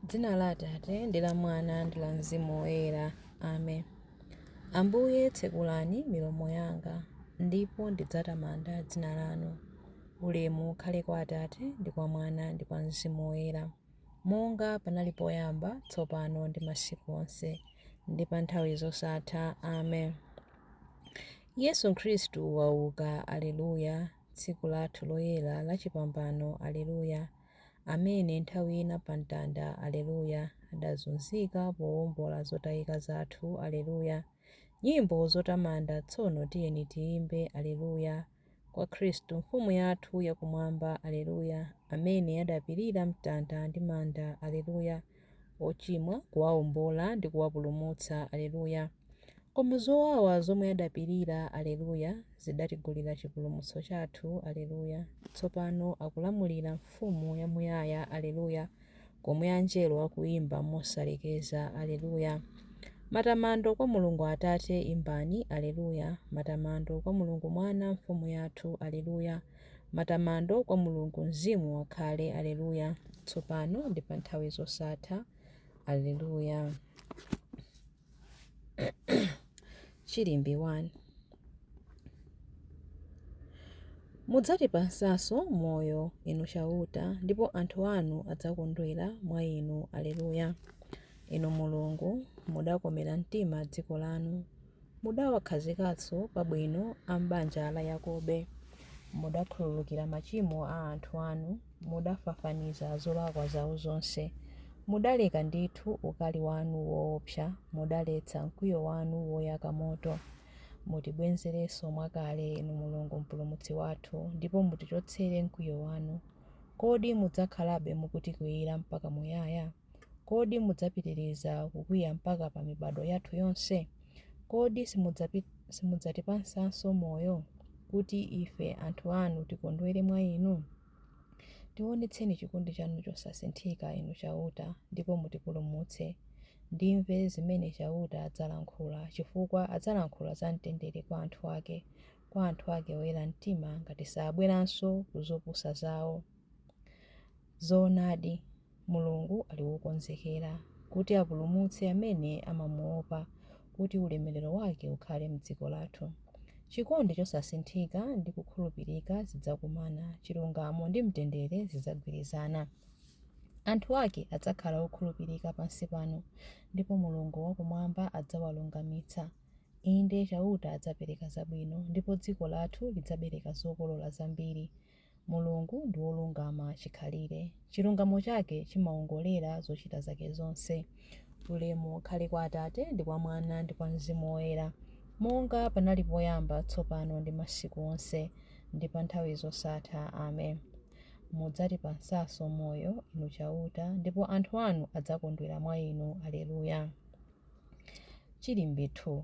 Dzina la Atate, ndi la Mwana, ndi la Mzimu Woyera. Amen. Ambuye, tsekulani milomo yanga, ndipo ndidzatamanda dzina lanu. Ulemu ukhale kwa Atate, ndi kwa Mwana, ndi kwa Mzimu Woyera, monga panali poyamba, tsopano, ndi masiku onse, ndi pa nthawi zosatha. Amen. Yesu Khristu wauka! Aleluya! Tsiku lathu loyera la chipambano! Aleluya! Amene nthawi ina pa mtanda, Aleluya, adazunzika powombola zotayika zathu, Aleluya, Nyimbo zotamanda tsono tiyeni tiyimbe, Aleluya, Kwa Khristu Mfumu yathu yakumwamba, Aleluya, Amene adapirira mtanda ndi manda, Aleluya. ochimwa, kuwaombola ndi kuwapulumutsa, Aleluya, Koma zowawa zomwe adapirira, Aleluya, zidatigulira chipulumutso chathu, Aleluya, Tsopano akulamulira Mfumu yamuyaya, Aleluya, Komwe Anjelo akuimba mosalekeza, Aleluya, Matamando kwa Mulungu Atate, Imbani, Aleluya, Matamando kwa Mulungu Mwana, Mfumu yathu, Aleluya. Matamando kwa Mulungu Mzimu akhale, Aleluya, tsopano ndi pa nthawi zosatha. Aleluya. Chilimbi 1 Mudzatipatsanso moyo, Inu Chauta, ndipo anthu anu adzakondwera mwa Inu. Aleluya. Inu Mulungu, mudakomera mtima dziko lanu. Mudawakhazikanso pabwino a m'banja la Yakobe, mudakhululukira machimo a anthu anu, mudafafaniza zolakwa zao zonse. Mudaleka ndithu ukali wanu woopsa, mudaletsa mkwiyo wanu woyaka moto. Mutibwenzerenso mwakale, Inu Mulungu Mpulumutsi wathu, ndipo mutichotsere mkwiyo wanu. Kodi mudzakhalabe mukutikwiyira mpaka muyaya? Kodi mudzapitiriza kukwiya mpaka pa mibado yathu yonse? Kodi simudzatipatsanso moyo, kuti ife anthu anu tikondwere mwa Inu? Tiwonetseni chikondi chanu chosasinthika, Inu Chauta, ndipo mutipulumutse. Ndimve zimene Chauta adzalankhula, chifukwa adzalankhula za mtendere kwa anthu ake, kwa anthu ake oyera mtima, ngati sabweranso ku zopusa zao. Zoonadi, Mulungu ali wokonzekera kuti apulumutse amene amamuopa kuti ulemerero wake ukhale m'dziko lathu. Chikondi chosasinthika ndi kukhulupirika zidzakumana, chilungamo ndi mtendere zidzagwirizana. Anthu ake adzakhala okhulupirika pansi pano, ndipo Mulungu wakumwamba adzawalungamitsa. Inde, Chauta adzapereka zabwino, ndipo dziko lathu lidzabereka zokolola zambiri. Mulungu ndi wolungama chikhalire. Chilungamo chake chimawongolera zochita zake zonse. Ulemu ukhale kwa Atate, ndi kwa Mwana, ndi kwa Mzimu Woyera, monga panali poyamba, tsopano ndi masiku onse, ndi pa nthawi zosatha. Amen. Mudzatipatsanso moyo, Inu Chauta, ndipo anthu anu adzakondwera mwa Inu. Aleluya. Chilimbi 2.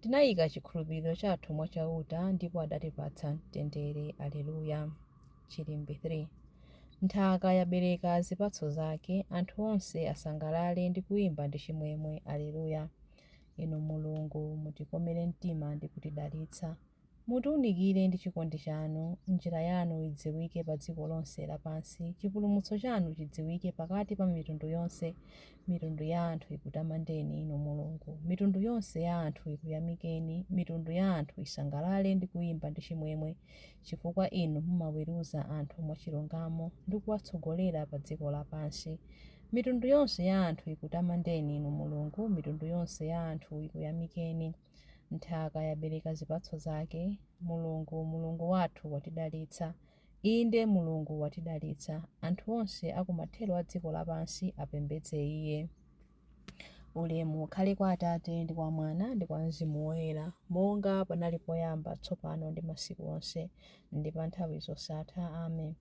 Tinayika chikhulupiriro chathu mwa Chauta ndipo adatipatsa mtendere. Aleluya, Chilimbi 3 Nthaka yabereka zipatso zake, anthu onse asangalale ndi kuyimba ndi chimwemwe. Aleluya, Inu Mulungu, mutikomere mtima ndi kutidalitsa. Mutiunikire ndi chikondi chanu, njira yanu idziwike pa dziko lonse lapansi, chipulumutso chanu chidziwike pakati pa mitundu yonse, Mitundu ya anthu ikutamandeni, Inu Mulungu, mitundu yonse ya anthu ikuyamikeni, mitundu ya anthu isangalale ndi kuimba ndi chimwemwe, chifukwa Inu mumaweruza anthu mwachilungamo ndi kuwatsogolera pa dziko lapansi. Mitundu yonse ya anthu ikutamandeni, Inu Mulungu, mitundu yonse ya anthu ikuyamikeni. Nthaka yabereka zipatso zake. Mulungu, Mulungu wathu watidalitsa. Inde, Mulungu watidalitsa. Anthu onse a ku mathero a dziko lapansi apembedze Iye. Ulemu ukhale kwa Atate, ndi kwa Mwana, ndi kwa Mzimu Woyera, monga panali poyamba, tsopano, ndi masiku onse, ndi pa nthawi zosatha. Amen.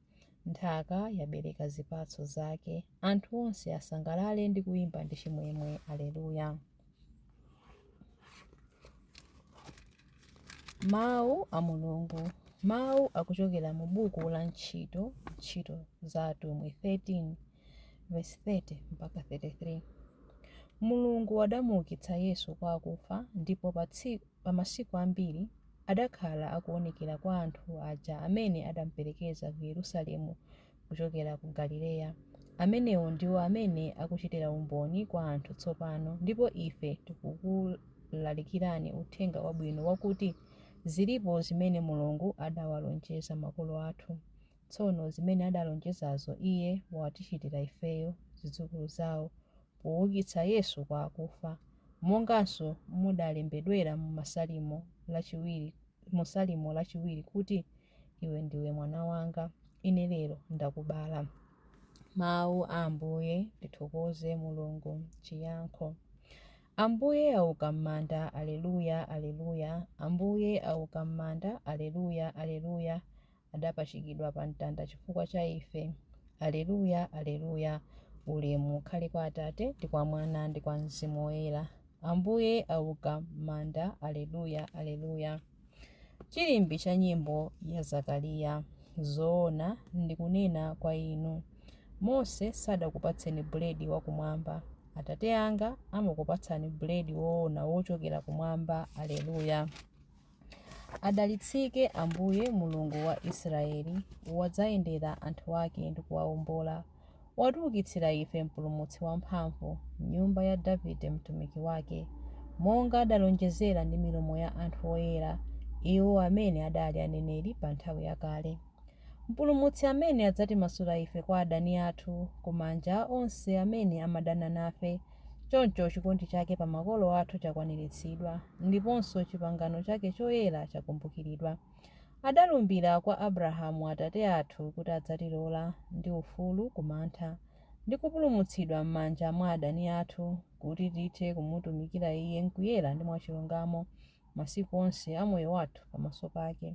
Nthaka yabereka zipatso zake. Anthu onse asangalale ndi kuimba ndi chimwemwe. Aleluya. Mawu a Mulungu. Mawu akuchokera mu buku la ntchito ntchito za atumwi 13 verse 30 mpaka 33. Mulungu adamuukitsa Yesu kwa akufa ndipo pa masiku ambiri adakhala akuonekera kwa anthu aja amene adamuperekeza ku Yerusalemu kuchokera ku Galileya. Amenewo ndiwo amene akuchitira umboni kwa anthu tsopano, ndipo ife tikukulalikirani uthenga wabwino wakuti zilipo zimene Mulungu adawalonjeza makolo athu. Tsono zimene adalonjezazo Iye watichitira ifeyo, zidzukulu zao, poukitsa Yesu kwa akufa, monganso mudalembedwera mu Salimo lachiwiri kuti. Iwe ndiwe mwana wanga, ine lero ndakubala. Mawu a Ambuye, tithokoze Mulungu. Chiyankho, Ambuye auka m'manda, aleluya, aleluya! Ambuye auka m'manda, aleluya, aleluya! Adapachikidwa pa mtanda chifukwa cha ife, aleluya, aleluya! Ulemu ukhale kwa Atate, ndi kwa Mwana, ndi kwa Mzimu Woyera. Ambuye auka m'manda, aleluya, aleluya! Chilimbi cha nyimbo ya Zakariya Zoona ndikunena kwa inu, Mose sadakupatseni buledi wa kumwamba, Atate anga amakupatsani buledi woona wochokera kumwamba Aleluya Adalitsike Ambuye, Mulungu wa Israyeli, Wadzayendera anthu ake ndi kuwaombola. Watiukitsira ife Mpulumutsi wamphamvu, m'nyumba ya Davide mtumiki wake, monga adalonjezera ndi milomo ya anthu oyera, iwo amene adali aneneri pa nthawi yakale. Mpulumutsi amene adzatimasula ife kwa adani athu, ku manja a onse amene amadana nafe, choncho chikondi chake pa makolo athu chakwaniritsidwa, ndiponso chipangano chake choyera chakumbukiridwa. Adalumbira kwa Abrahamu atate athu kuti adzatilola ndi ufulu ku mantha, ndi kupulumutsidwa m'manja mwa adani athu, kuti tithe kumutumikira Iye m'kuyera ndi mwachilungamo masiku onse a moyo wathu pamaso pake.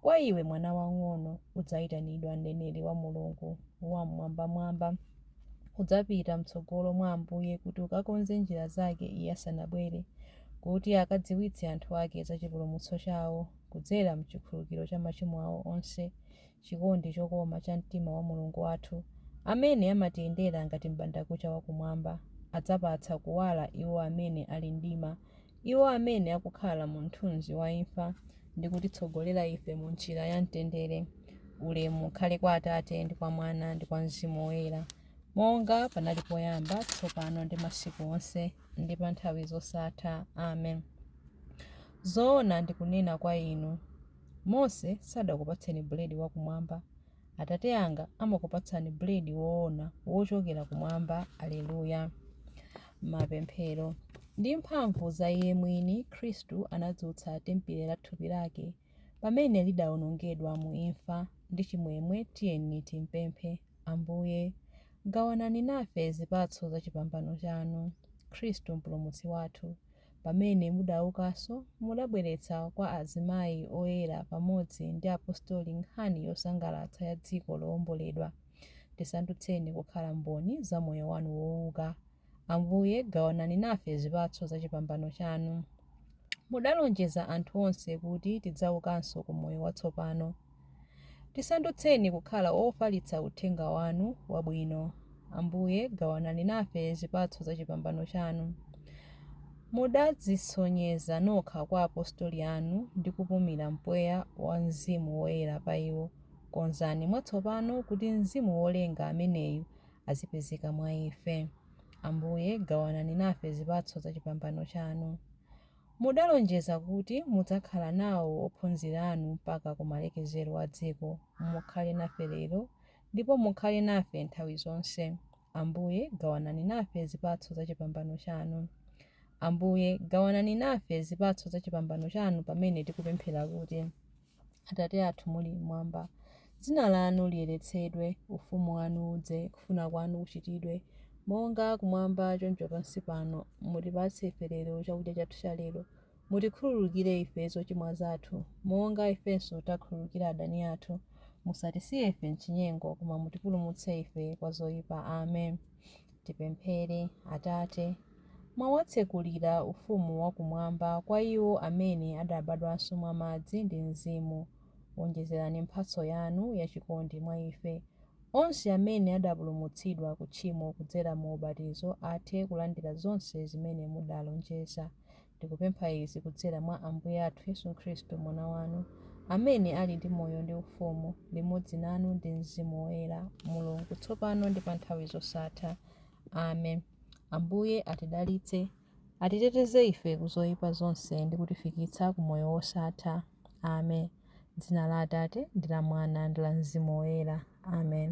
Kwa iwe, mwana wamng'ono, udzaitanidwa mneneri wa Mulungu Wam'mwambamwamba. Udzapita m'tsogolo mwa Ambuye kuti ukakonze njira zake Iye asanabwere, kuti akadziwitse anthu ake za chipulumutso chawo kudzera m'chikhululukiro cha machimo awo onse, chikondi chokoma cha mtima wa Mulungu wathu, amene amatiyendera ngati m'bandakucha wa kumwamba, adzapatsa kuwala iwo amene ali m'mdima, iwo amene akukhala mu mthunzi wa imfa, ndi kutitsogolera ife mu njira ya mtendere. Ulemu ukhale kwa Atate, ndi kwa Mwana, ndi kwa Mzimu Woyera, monga panali poyamba, tsopano, ndi masiku onse. ndi pa nthawi zosatha. Amen. Zoona ndikunena kwa inu, Mose sadakupatseni buledi wakumwamba, Atate anga amakupatsani buledi woona wochokera kumwamba. Aleluya. Mapemphero. Ndi mphamvu za iye mwini, Khristu anadzutsa tempile la thupi lake pamene lidaonongedwa mu imfa. Ndi chimwemwe tiyeni timpemphe. Ambuye, gawanani nafe zipatso za chipambano chanu, Khristu Mpulumutsi wathu, pamene mudaukanso, mudabweretsa kwa azimayi oyera pamodzi ndi apostoli nkhani yosangalatsa ya dziko lowomboledwa, tisandutseni kukhala mboni za moyo wanu wouka. Ambuye, gawanani nafe zipatso za chipambano chanu. Mudalonjeza anthu onse kuti tidzaukanso ku moyo watsopano. Tisandutseni kukhala ofalitsa uthenga wanu wabwino. Ambuye, gawanani nafe zipatso za chipambano chanu. Mudadzisonyeza nokha kwa apostoli anu ndi kupumira mpweya wa Mzimu Woyera pa iwo. Konzani mwatsopano kuti Mzimu wolenga ameneyu azipezeka mwa ife. Ambuye, gawanani nafe zipatso za chipambano chanu. Mudalonjeza kuti mudzakhala nawo ophunzira anu mpaka ku malekezero a dziko. Mukhale nafe lero, ndipo mukhale nafe nthawi zonse. Ambuye, gawanani nafe zipatso za chipambano chanu. Ambuye, gawanani nafe zipatso za chipambano chanu pamene tikupemphera kuti. Atate athu muli m'mwamba, Dzina lanu liyeretsedwe, Ufumu wanu udze, Kufuna kwanu kuchitidwe, Monga kumwamba choncho pansi pano. Mutipatse ife lero chakudya chathu cha lero. Mutikhululukire ife zochimwa zathu, Monga ifenso takhululukira adani athu. Musatisiye ife m'chinyengo, Koma mutipulumutse ife kwa zoipa. Amen. Tipemphere. Atate, mwawatsekulira ufumu wa kumwamba kwa iwo amene adabadwanso mwa madzi ndi Mzimu, wonjezerani mphatso yanu ya chikondi mwa ife. Onse amene adapulumutsidwa ku tchimo kudzera mu ubatizo athe kulandira zonse zimene mudalonjeza. Ndikupempha izi kudzera mwa Ambuye athu Yesu Khristu, Mwana wanu, amene ali ndi moyo ndi ufumu limodzi nanu ndi mzimu woyera, Mulungu, tsopano ndi pa nthawi zosatha. Amen. Ambuye atidalitse, atiteteze ife ku zoyipa zonse ndi kutifikitsa ku moyo wosatha. Amen. M'dzina la Atate, ndi la Mwana, ndi la mzimu woyera. Amen.